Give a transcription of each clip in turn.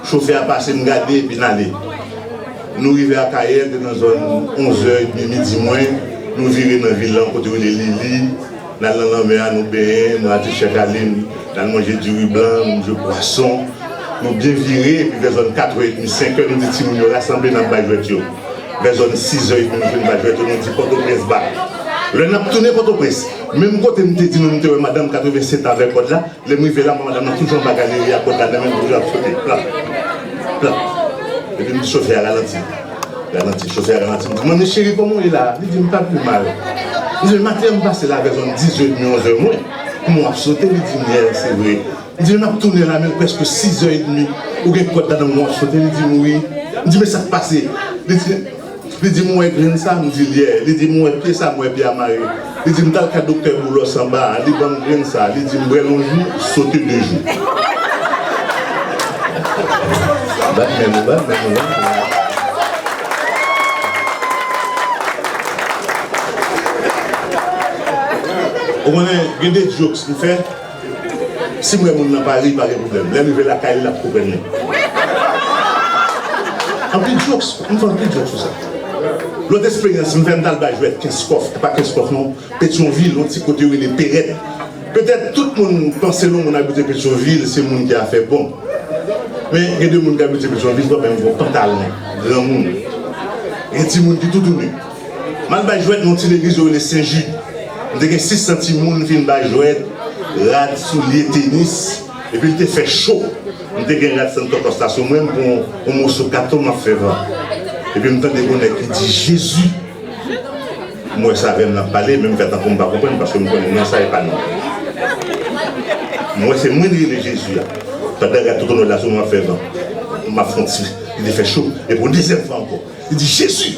Chofè a pase m gade epi n ale. Nou rive Akayè l te nan zòn onzè edmi midi mwen, nou vire nan vil lan kote yo rele Lili, n al nan lanmè a nou benyen, m rate chèk ale m, n al manje diri blan, nou jwe pwason, nou byen vire epi vè zòn katrè edmi, senkè nou di timoun yo rasanble n ap bay jwèt yo. Vè zòn sizè edmi nou fin bay jwèt yo nou di Pòtoprens bak. Lè n ap tounen Pòtoprens, menm kote m te di nou m te wè madanm 87 an avèk kòd la, Lè m rive la, m wè madam nan toujou anba galeri a, kòd la nan men l, toujou ap sote, plap, plap. Epi m di chofè a ralanti, ralanti. Chofè a ralanti, m di, manmi cheri kòman w ye la a? Li di m pa pi mal. M di men maten an m pase la vè zòn dizèdmi, onzè mwen, kouman w ap sote? Li di m yè, se vre. M di men m ap tounen la men l prèske sizè edmi, ou gen kòd la nan men w wap sote? Li di m wi. M di men sa k pase? Li di. Li di m ou wè grenn sa? M di l yè. Li di m ou wè pye sa? M wè pye a mare. Li di m t al ka doktè Boulos anba a, li ban m grenn sa. Li di m bwè l yon jou, sote de jou. Bat men nou, bat men nou. Ou konnen gen de jokes m fè. Sim wè moun nan pa ri pa gen problèm lèm rive lakay li lap konprann mwen anpil jokes m fè anpil jokes sou sa lòt esperyans m fè m tal bay jwèt kenskòf epa kenskòf non petyonvil yon ti kote yo rele perèt petèt tout moun panse non moun abite petyonvil se moun ki afè bon men gen de moun ki abite petyonvil wap wè yon gwo pantalon granmoun gen timoun ki tou tounen. M al bay jwèt nan yon ti legliz yo rele Sen Jid. M te gen 6 an timoun fin bay jwèt, rad, soulye, tenis, epi l te fè cho. M te gen rad Santo Costa sou mwen, m pran yon moso katon m ap fè van. Epi m tande yon nèg ki di, Jezi! M wè se avè m l ap pale, men m fè tankou m pa konprann paske m konnen non sa e pa non m. M wè se mwen li rele Jezi a. Pandan rad Totonòl la sou mwen m ap fè van, m ap fè yon ti, li te fè cho, epi yon dezyèm fwa ankò, li di, Jezi!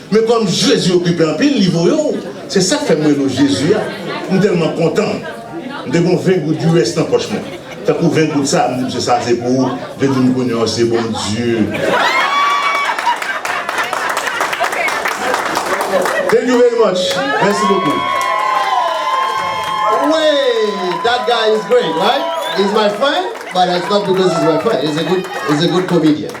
Men kòm Jezi okipe anpil li voye w se sak fè m rele w Jezi a m tèlman kontan m te gon 20 goud US nan pòch mwen tankou 20 goud sa a m di misye sa se pou ou vle di m kounye an se Bondye. Thank you very much Mèsi bokou. Weyy that guy is great right? He's my friend but it's not because he's my friend he's a good comedian.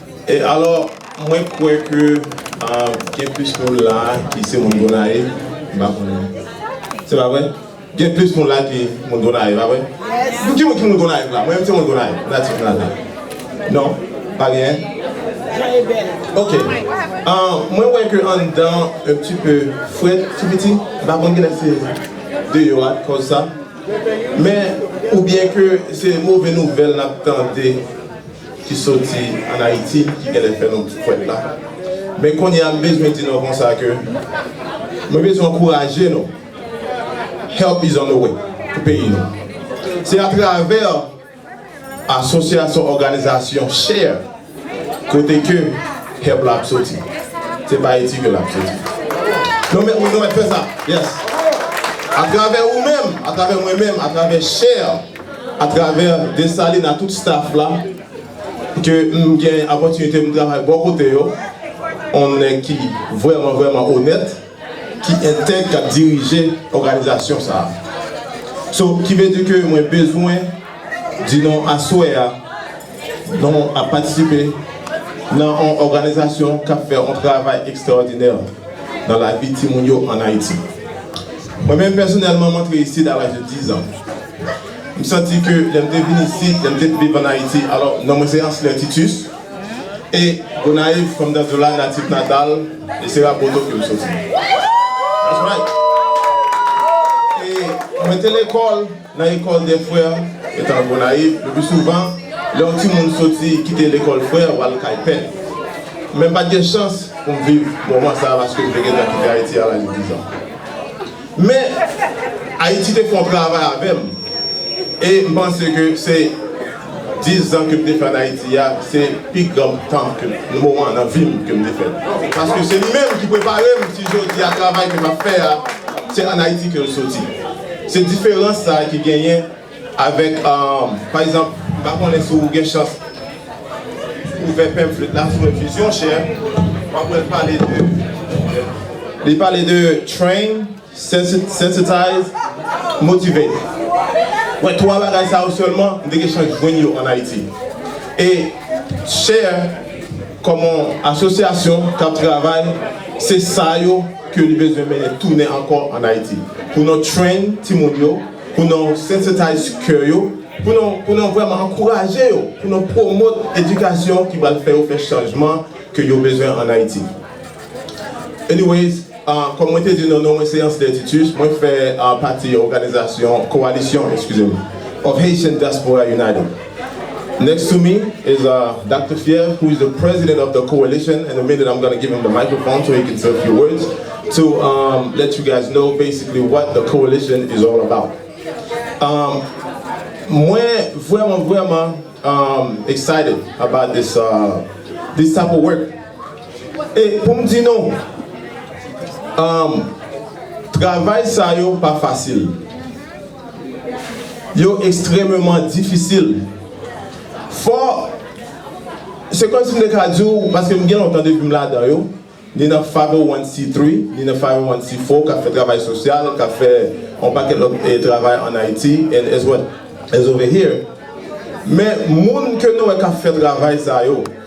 E alò, mwen kwè ke gen plis moun la a ki se moun Gonayiv, m pa konnen. Se pa vre? Gen plis moun la a ki moun Gonayiv, pa vre? Pou ki moun ki moun Gonayiv la? Mwen menm se moun Gonayiv, natif natal. Non? Pa genyen? Ok. Mwen wè ke anndan an un petit peu frèt, ti piti. M pa konnen kilès se deyò a ki kòz sa. Men, oubyen ke se move nouvèl n ap tande. ki soti an Ayiti ki genlè fè nou fwèt la. Men kounye a m bezwen di nou konsa ke mwen bezwen ankouraje nou. Help is on the way pou peyi nou. Se atravè asosyasyon òganizasyon share kote ke help la ap soti. Se pa Ayiti ke l ap soti. Nou mèt nou mèt fè sa. Yes. Atravè ou menm, atravè mwen menm, atravè share. atravè Desalin a tout staff la ke m gen opòtinite m travay bò kote yo yon nèg ki vrèman vrèman onèt ki entèg k ap dirije òganizasyon sa a so ki vle di ke mwen bezwen di nou aswè a. Nou ap patisipe nan yon òganizasyon k ap fè yon travay ekstraòdinè nan lavi timoun yo ann Ayiti. Mwen menm pèsonèlman m antre isit a laj de dizan. M santi ke lè m te vin isit, lè m te viv ann Ayiti, alò non mwen se Ansler Titus e Gonayiv kòm nan Zola natif natal e se Raboto ke m soti. That's right! E mwen te lekòl. Nan Ecole des Frères, etan l Gonayiv, le plus souvent, lè yon timoun soti kite Lekòl Frè w al kay pè l. Men m pa t gen chans pou m viv moman sa a paske m te gentan kite Ayiti a laj dizan. Men, Ayiti te fè yon travay avè m e m panse ke se. 10 zan kem te fè an Ayiti a se pi gran tan ke nan moman nan vim kem te fèl paske se li menm ki preparem si jodi a travay ke map fè a se an Ayiti kel soti se diferans sa ki genyen avèk pa egzanp m pa konnen si w gen chans ouvè pamphlet la sou enfusion chè wap wèl pale de li pale de train Sensitize, Motivate, wè 3 bagay sa yo sèlman m te gen chans jwenn yo an Ayiti. E Share kòm yon asosyasyon k ap travay se sa yo ke li bezwen mennen tounen ankò an Ayiti pou nou train timoun yo, pou nou sensitize kè yo, pou nou vrèman ankouraje yo, pou nou promote edikasyon ki pral fè yo fè chanjman ke yo bezwen an Ayiti. Anyways, kòm mwen te di nou, non mwen se Anslè Titus, mwen fè pati òganizasyon, kowalisyon, eskize m, of Haitian Diaspora United. Next to me is Doctor Fièvre who is the president of the coalition, in a minute I'm gonna give him the microphone so he can say a few words to let you guys know basically what the coalition is all about. Mwen vrèman vrèman excited about this type of work. E pou m di nou, travay sa yo pa fasil. Yo ekstrememan difisil. Fò, se kòm si m te ka di w, paske m gen lontan depi m ladan yo, ni nan 501c3, ni nan 501c4 k ap fè travay sosyal, k ap fè yon pakèt lòt travay ann Ayiti, and as well as over here, men moun ke nou wè k ap fè travay sa yo,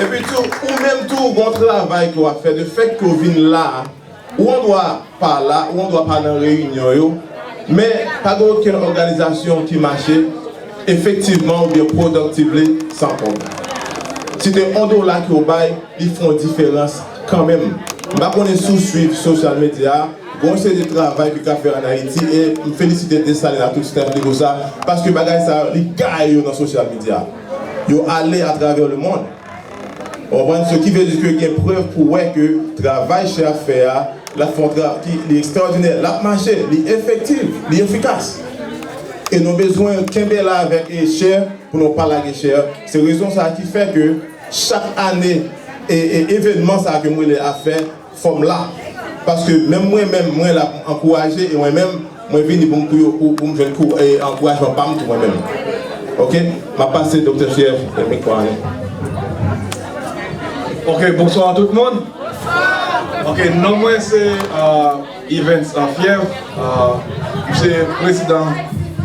Epi tou, ou menm tou gon travay ke wap fè, de fèt ke w vin la, ou an dwa pa la, ou an dwa pa nan reyinyon yo, men pa gen okenn òganizasyon ki mache efektivman oubyen productively san kòb. Si te on dola ke w bay, li fè yon diferans. Kanmenm, m pa konnen si w swiv sosyal medya, gen yon seri de travay ki ka fè an Ayiti e m felisite Dessalines ak tout staff li pou sa, paske bagay sa yo li gaye yo nan sosyal medya. Yo ale atravè lemond. Ou konprann? Se ki vle di ke gen prèv pou wè ke travay Che ap fè a, l ap fè yon travay ki li ekstrawòdinè, l ap mache, li efektiv, li efikas. E nou bezwen kenbe la avèk Che pou nou pa lage Che. Se rezon sa a ki fè ke. Chak ane evenman sa ke m rele afè fò m la. Paske menm mwen menm mwen la pou m ankouraje e mwen menm mwen vini pou m pou yo pou m jwenn kou ankourajman pa m tou mwen menm. Ok m ap pase Doktè Fyèv mikwo a nou. Ok bonswa tout moun. Ok non mwen se. Evens an fyèv, m se prezidan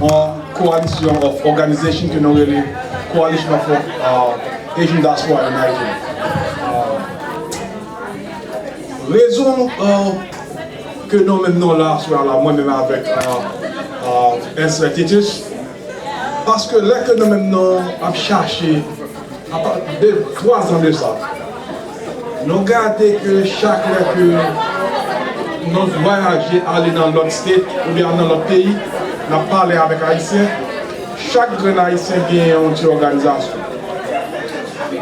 yon coalition of organization ke nou rele Coalition of Asian Diaspora in Nigeria. Rezon ke nou menm nou la aswè a la, mwen menm avèk Ernst Titus, Paske lè ke nou menm nou ap chache apa de 3 zan de sa nou gade ke chak lè ke nou vwayaje ale nan lòt state ou byen nan lòt peyi nap pale avèk ayisyen chak grenn ayisyen gen yon ti òganizasyon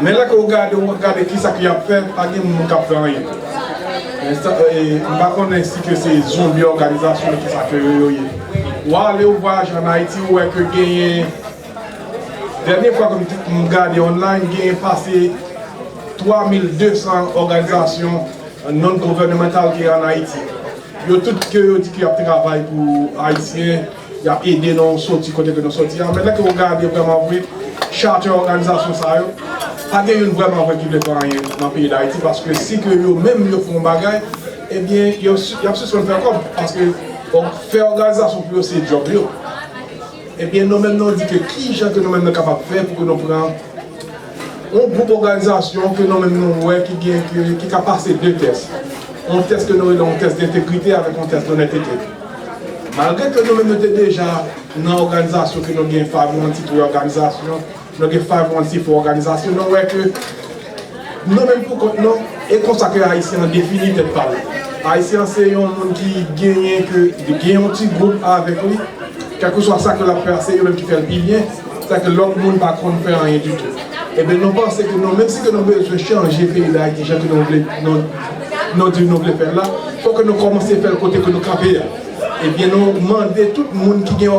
men lè ke ou gade ou gade kisa ke yap fè pa gen moun kap fè anyen mpa konnen si ke se zonbi òganizasyon kisa ke yo ye. Ou ale ou vwayaje an Ayiti ou wè ke genyen, dènye fwa ke m gade online, genyen pase 3200 òganizasyon non gouvènemantal ki an Ayiti. Yo tout ke yo di ke y ap travay pou Ayisyen, y ap ede nou soti kote ke nou soti a, men lè ke ou gade vrèman vre, chate òganizasyon sa yo, pa gen youn vrèman vre ki vle fè anyen nan peyi Dayiti paske si ke yo menm yo fè yon bagay, Ebyen yap sispann fè kòb paske bon fè òganizasyon pou yo se djòb yo ebyen nou menm nou di ke kijan ke nou menm nou kapab fè pou ke nou pran yon gwoup òganizasyon ke nou menm nou wè ki gen ki ka pase 2 tès yon tès ke nou rele yon tès dentegrite avèk yon tès donètete malgre ke nou menm nou te deja nan òganizasyon ke nou gen pa nou an ti kle òganizasyon. Nou gen 514 òganizasyon, nou wè ke nou menm pou kont nou, e konsa ke Ayisyen an defini tèt pa li. Ayisyen an se yon moun ki genyen ke li gen yon ti gwoup avèk li, kèlkeswa sa ke l ap fè a se yo menm ki fè l pi byen, sa ke lòt moun pa konn fè anyen ditou. Enben nou panse ke nou menm si ke nou bezwen chanje peyi Dayiti jan ke nou vle, nou di nou vle fè l la, fò ke nou kòmanse fè l kote ke nou kanpe a. Ebyen nou mande tout moun ki gen.